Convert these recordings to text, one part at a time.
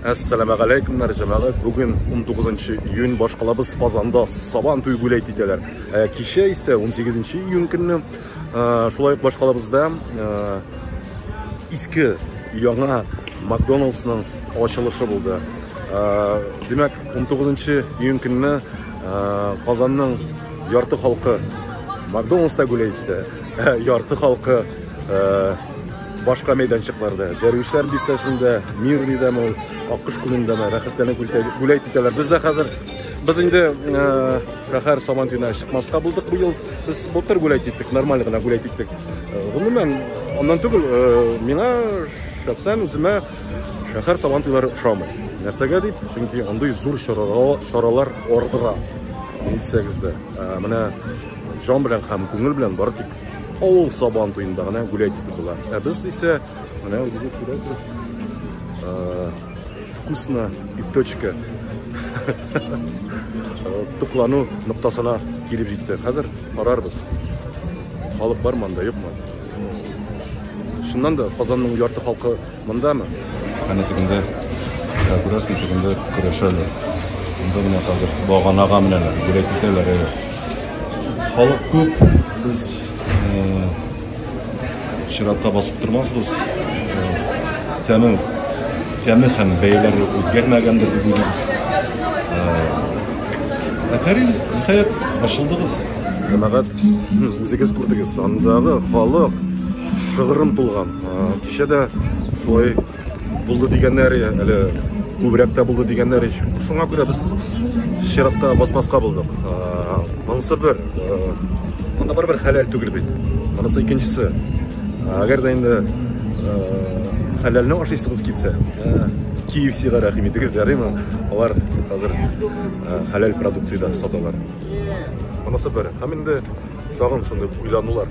Әссәләмә галәйкүмнәр, җәмәгать. Бүген 19 нчы июнь башкалабыз Казанда сабан туй бүләк итәләр. Ә кичә исә 18 нчы июнь көнне шулай ук башкалабызда иске яңа Макдоналдсның ачылышы булды. Димәк, 19 нчы июнь көнне Казанның ярты халкы Макдоналдста бүләк итте. Ярты халкы башка мәйданчыкларда, Дәрвишләр бистәсендә, Мирный дәм ул, Аккош күлендә дә рәхәтләнеп бүләк итәләр. Без дә хәзер без инде шәһәр Сабантуена чыкмаска булдык быел. Без былтыр бүләк иттек, нормаль гына бүләк иттек. Гомумән, аннан түгел, миңа шәхсән үземә шәһәр Сабантуйлары ошамый. Нәрсәгә дип? Чөнки андый зур чаралар, чаралар ардыра. Әйтсәгез дә, менә җан белән һәм күңел белән барып Авыл сабан туенда гына гүләй дип була. Ә без исә менә үзегез күрәсез. Вкусно и точка. Туклану ноктасына килеп җитте. Хәзер карарбыз. Халык бар монда, юкмы? Шуннан да Казанның ярты халкы Мондамы? Әнә тегендә, ә, күрәсең, тегендә көрәшәләр. Монда менә хәзер баганага менәләр, бүләк итәләр. Әйе. Халык күп, без э, чиратта басып тормасбыз. Э, тәме, тәме һәм бәяләре үзгәрмәгәндер дип уйлыйбыз. Э, Әфәрин, ниһаять, ачылдыгыз. Җәмәгать, үзегез күрдегез, андагы халык шыгрым тулган. Кичә дә шулай булды дигәннәр, әле күбрәк тә булды дигәннәр. Шуңа күрә без чиратта басмаска булдык. Монысы бер, монда бер хәләл түгел бит. Монысы икенчесе. Әгәр дә инде хәләлне ашыйсыгыз килсә, KFC-га рәхим итегез, ярыймы? Алар хәзер хәләл продукция дә саталар. Монысы бер. Һәм инде тагын шундый уйланулар.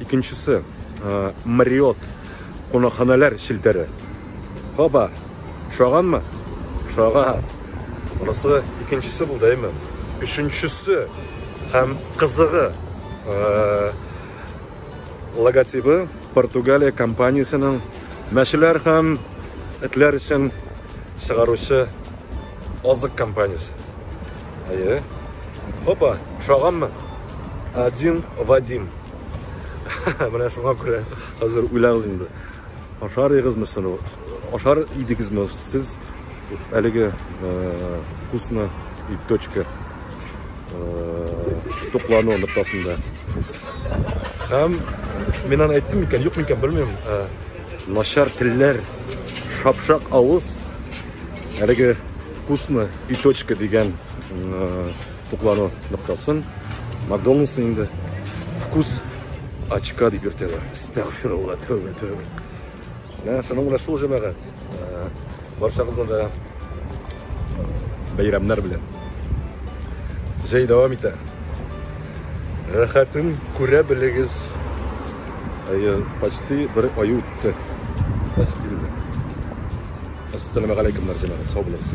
Икенчесе, Мариот кунакханәләр челтәре. Хаба, шаганмы? Шага. Монысы икенчесе булды, әйме? Өченчесе һәм кызыгы логотибы Португалия компаниясенең мәчеләр һәм этләр өчен чыгаручы азык компаниясе. Әйе. Опа, шаганмы? Один Вадим. Менә шуңа күрә хәзер уйлагыз инде. Ашар егызмы соны? Ашар идегезме сез әлеге э, вкусно и точка э, туклану ноктасында? Һәм мин аны әйттем микән, юк микән, белмим. Э, начар телләр, шапшак авыз. Әлеге Вкусно и точка дигән туклану ноктасын Макдоналдсны инде вкус очка дип йөртәләр. Әстәгфирулла, тәүбә, тәүбә. Менә шуның белән шул җәмәгать. Барчагызны да бәйрәмнәр белән. Җәй дәвам итә. Рәхәтен күрә белегез. Әйе, почти бер ай үтте. Почти. Ассаламу алейкумнар, җәмәгать, сау булыгыз.